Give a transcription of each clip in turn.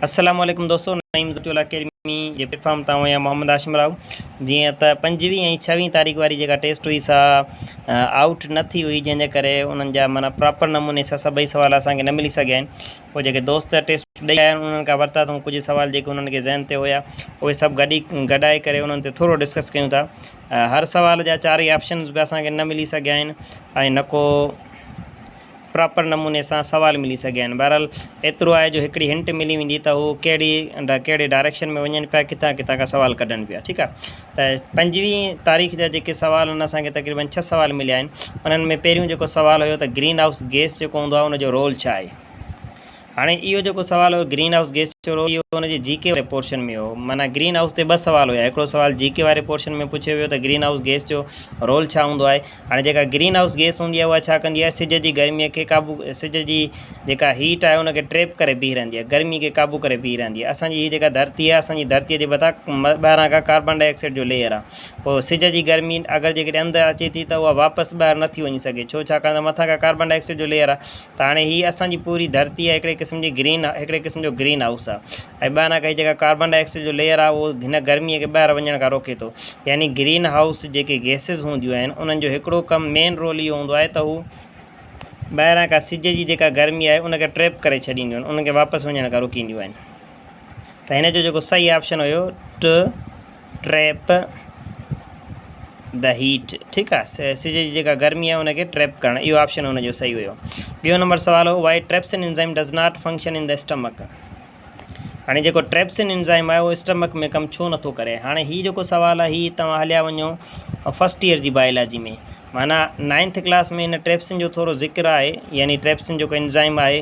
السلام عليڪم دوستو نعيم زوٽيول اڪيڊمي جي پليٽ فارم تان آهيان محمد هاشم راهو جيئن ته پنجويهه ۽ ڇويهه تاريخ واري جيڪا ٽيسٽ هئي سا آؤٽ نه ٿي هئي جنهن جي ڪري انهن جا مانا پراپر نموني سا سڀئي سوال اسانکي نه ملي سگهيا آهن پوء جيڪي دوست ٽيسٽ ڏئي آيا آهن انهن کان ورتا اٿئون ڪجهه سوال جيڪي انهن کي ذهن تي هيا اهي سڀ گڏي گڏائي ڪري انهن تي ٿورو ڊسڪس ڪيون ٿا هر سوال جا چارئي آپشنز به اسانکي نه ملي سگهيا آهن ۽ نه ڪو پراپر نموني سان سوال ملي سگهيا آهن بهرحال ايترو آهي جو هڪڙي هنٽ ملي ويندي ته هو ڪهڙي ڪهڙي ڊائريڪشن ۾ وڃن پيا ڪٿان ڪٿان کان سوال ڪڍن پيا ٺيڪ آهي ته پنجويهه تاريخ جا جيڪي سوال آهن اسان کي تقريبن ڇهه سوال مليا آهن انهن ۾ پهريون جيڪو سوال هيو ته گرين هائوس گيس جيڪو هوندو آهي ان جو رول ڇا آهي هاڻي اهو جيڪو سوال هو گرين هائوس گيس جو رول اهو ان جي جي ڪي واري پورشن ۾ هو معنيٰ گرين هائوس تي ٻه سوال هيا هڪڙو سوال جي ڪي واري پورشن ۾ پڇيو ويو ته گرين هائوس گيس جو رول ڇا هوندو آهي هاڻي جيڪا گرين هائوس گيس هوندي آهي اها ڇا ڪندي آهي سج جي گرمي کي قابو سج جي جيڪا هيٽ آهي ان کي ٽريپ ڪري بيهي رهندي آهي گرمي کي قابو ڪري بيهي رهندي آهي اسان جي هي جيڪا ڌرتي آهي اسان جي ڌرتي جي مٿان ٻاهران کان ڪاربان ڊاء آڪسائيڊ جو ليئر آهي پوء سج جي گرمي اگر جيڪڏهن اندر اچي ٿي ته اها واپس ٻاهر نٿي وڃي سگهي ڇو ڇاڪاڻ ته مٿان کان ڪاربان ڊاء آڪسائيڊ جو ليئر آهي ته هاڻي هي اسان جي پوري ڌرتي آهي هڪڙي قسم جي گرين هڪڙي قسم جو گرين هائوس آهي ۽ ٻانهن کان هي جيڪا ڪاربان ڊاء آڪسائيڊ جو ليئر آهي اهو هن گرميء کي ٻاهر وڃڻ کان روڪي ٿو يعني گرين هائوس جيڪي گيسز هونديون آهن انهن جو هڪڙو ڪم مين رول اهو هوندو آهي ته هو ٻاهران کان سج جي جيڪا گرمي آهي ان کي ٽريپ ڪري ڇڏينديون آهن ان کي واپس وڃڻ کان روڪينديون آهن ته هن جو جيڪو صحيح آپشن هيو ٽه ٽريپ د هيٽ ٺيڪ آ سج جي جيڪا گرمي آ ان کي ٽريپ ڪرڻ اهو آپشن ان جو صحيح هيو ٻيو نمبر سوال هو why trypsin enzyme does not function in the stomach هاڻي جيڪو ٽريپسن انزائم آهي اهو اسٽمڪ ۾ ڪم ڇو نٿو ڪري هاڻي هي جيڪو سوال آ هي توهان هليا وڃو فسٽ ايئر جي بايولاجي ۾ معنيٰ نائنٿ ڪلاس ۾ هن ٽريپسن جو ٿورو ذڪر آهي يعني ٽريپسن جيڪو انزائم آهي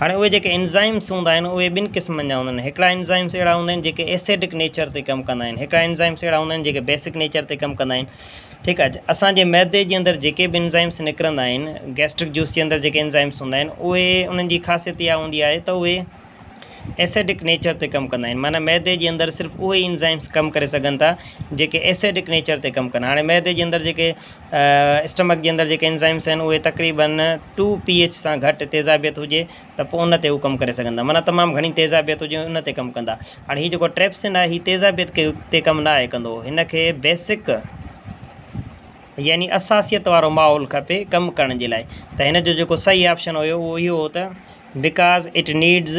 هاڻي اهي جيڪي انزائمس هوندا آهن اهي ٻن قسمن جا هوندا آهن هڪڙا انزائمس اهڙا هوندا آهن جيڪي ايسڊڪ نيچر تي ڪم ڪندا آهن هڪڙا انزائمس اهڙا هوندا آهن جيڪي بيسڪ نيچر تي ڪم ڪندا آهن ٺيڪ آهي اسانجي معدي جي اندر جيڪي به انزائمس نڪرندا آهن گيسٽرڪ جوس جي اندر جيڪي انزائمس هوندا آهن اهي انهن جي خاصيت اها هوندي آهي ته اهي ايسڊڪ نيچر تي ڪم ڪندا آهن معنی معدي جي اندر صرف اهي انزائمس ڪم ڪري سگهن ٿا جيڪي ايسڊڪ نيچر تي ڪم ڪن هاڻي معدي جي اندر جيڪي اسٽمڪ جي اندر جيڪي انزائمس آهن اهي تقريبن ٽو پي ايچ سان گهٽ تيزابيت هجي ته پوء ان تي هو ڪم ڪري سگهندا معنيٰ تمام گهڻي تيزابيت هجي ان تي ڪم ڪندا هاڻي هي جيڪو ٽريپسن آهي هي تيزابيت کي تي ڪم نه آهي ڪندو هن کي بيسڪ يعني اساسيت وارو ماحول کپي ڪم ڪرڻ جي لاء ته هن جو جيڪو صحيح آپشن هيو اهو اهو هو ته بڪاز اٽ نيڊز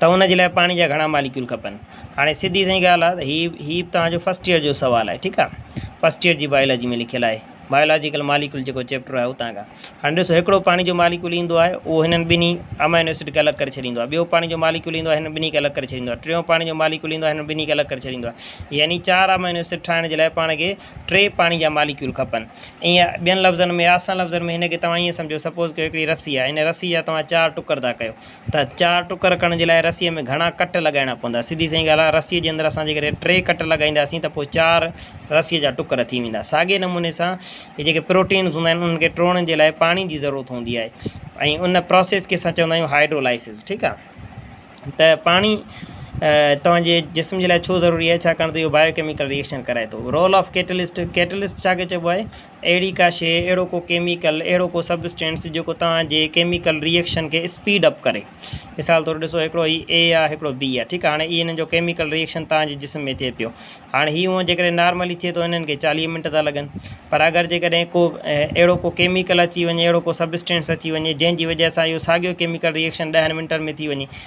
ته ان جي لاء پاڻي جا گهڻا ماليڪيول کپن هاڻي سڌي سائين ڳالهه آهي ته هي هي به توهان جو فسٽ ايئر جو سوال آهي ٺيڪ آهي فسٽ ايئر جي بايولاجي ۾ لکيل آهي بايولاجيڪل ماليڪيول جيڪو چيپٽر آهي اتان کان هاڻي ڏسو هڪڙو پاڻي جو ماليڪيول ايندو آهي اهو هنن ٻنهي امائنو ايسڊ کي الڳ ڪري ڇڏيندو آهي ٻيو پاڻي جو ماليڪيول ايندو آهي هنن ٻنهي کي الڳ ڪري ڇڏيندو آهي ٽيون پاڻي جو ماليڪيول ايندو آهي هنن ٻنهي کي الڳ ڪري ڇڏيندو آهي يعني چار امائنو ايسڊ ٺاهڻ جي لاء پاڻ کي ٽي پاڻي جا ماليڪيول کپن ائين ٻين لفظن ۾ آسان لفظن ۾ هن کي توهان ائين سمجهو سپوز ڪيو هڪڙي رسي آهي هن رسي جا توهان چار ٽڪر ٿا ڪيو ته چار ٽڪر ڪرڻ جي لاء رسيء ۾ گهڻا ڪٽ لڳائڻا پوندا. سڌي سنئين ڳالهه آهي رسيء جي اندر اسان جيڪڏهن ٽي ڪٽ لڳائينداسين ته پوء چار رسيء جا ٽڪر ٿي ويندا. ساڳئي نموني سان هي جيڪي پروٽينز هوندا آهن انهن کي ٽوڙڻ جي لاء پاڻي جي ضرورت هوندي آهي ۽ ان پراسيس کي اسان چوندا آهيون هائيڊرولائسز ٺيڪ آهي ته پاڻي توهان جي جسم جي لاء ڇو ضروري آهي ڇاڪاڻ ته اهو بايو ڪيميڪل ري ايڪشن ڪرائي ٿو رول آف ڪيٽلسٽ، ڪيٽلسٽ ڇا کي چئبو آهي؟ اهڙي ڪا شيء اهڙو ڪو ڪيميڪل اهڙو ڪو سبسٽينس جيڪو توهان جي ڪيميڪل ريئڪشن کي اسپيڊ اپ ڪري مثال طور ڏسو هڪڙو هي اي آ هڪڙو بي آ ٺيڪ آ هاڻي انهن جو ڪيميڪل ريئڪشن توهان جي جسم ۾ ٿئي پيو هاڻي هي هونء جيڪڏهن نارملي ٿئي ٿو انهن کي چاليهه منٽ ٿا لڳن پر اگر جيڪڏهن ڪو اهڙو ڪو ڪيميڪل اچي وڃي اهڙو ڪو سبسٽينس اچي وڃي جنهن جي وجه سان اهو ساڳيو ڪيميڪل ريئڪشن ڏهن منٽن ۾ ٿي وڃي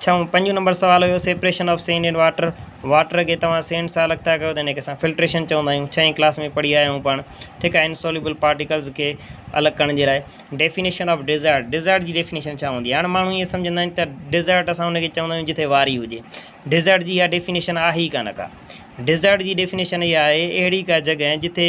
ڇهون، پنجون نمبر سوال هيو separation of sand and water, water کي توهان سينڊ سان الڳ ٿا ڪيو ته ان کي اسان فلٽريشن چوندا آهيون ڇهين ڪلاس ۾ پڙهي آيا آهيون پاڻ ٺيڪ آهي انسوليبل پارٽيڪلز کي الڳ ڪرڻ جي لاء ڊيفينيشن آف ڊيزرٽ ڊيزرٽ جي ڊيفينيشن ڇا هوندي هاڻ ماڻهو ائين سمجهندا آهن ته ڊيزرٽ اسان ان کي چوندا آهيون جتي واري هجي ڊيزرٽ جي اها ڊيفينيشن آهي ئي کانه ڪا ڊيزرٽ جي ڊيفينيشن اها آهي اهڙي کا جڳهه جتي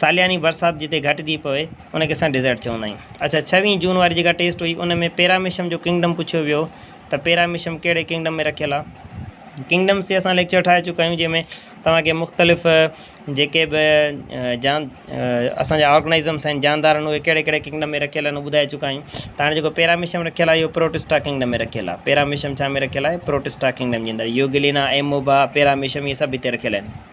سالياني برسات جتي گهٽجي پوي ان کي اسان ڊيزرٽ چوندا آهيون. اڇا ڇويهين جون واري جيڪا ٽيسٽ هئي ان ۾ پيراميشم جو ڪنگڊم پڇيو ويو ته پيراميشم ڪهڙي ڪنگڊم ۾ رکيل آهي. ڪنگڊمس تي اسان ليڪچر ٺاهي چڪا آهيون جنهن ۾ توهان کي مختلف جيڪي به جان اسان جا آرگنائزمس آهن جاندار آهن اهي ڪهڙي ڪهڙي ڪنگڊم ۾ رکيل آهن ٻڌائي چڪا آهيون ته هاڻي جيڪو پيراميشم رکيل آهي اهو پروٽسٽا ڪنگڊم ۾ رکيل آهي پيراميشم ڇا ۾ رکيل آهي پروٽسٽا ڪنگڊم جي اندر يوگلينا ايموبا پيراميشم اهي سڀ هتي رکيل آهن.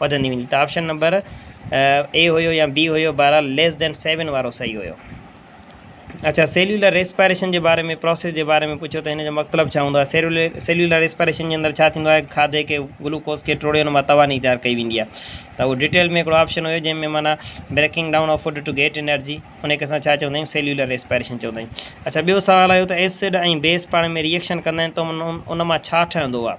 وڌندي ويندي ته آپشن نمبر اي هيو يا بي هيو بهرحال ليس دين سيون وارو صحيح هيو اچھا سيلولر ريسپائريشن جي باري ۾ پروسيس جي باري ۾ پڇيو ته هن جو مطلب ڇا هوندو آهي سيلولر سيلولر ريسپائريشن جي اندر ڇا ٿيندو آهي کاڌي کي گلوڪوز کي ٽوڙي ان مان توانائي تيار ڪئي ويندي آهي ته اهو ڊيٽيل ۾ هڪڙو آپشن هيو جنهن ۾ معنيٰ breaking down of food to get energy ان کي اسان ڇا چوندا آهيون سيلولر ريسپائريشن چوندا آهيون اچھا ٻيو سوال آيو ته ايسڊ ۽ بيس پاڻ ۾ ريئڪشن ڪندا آهن ته ان مان ڇا ٺهندو آهي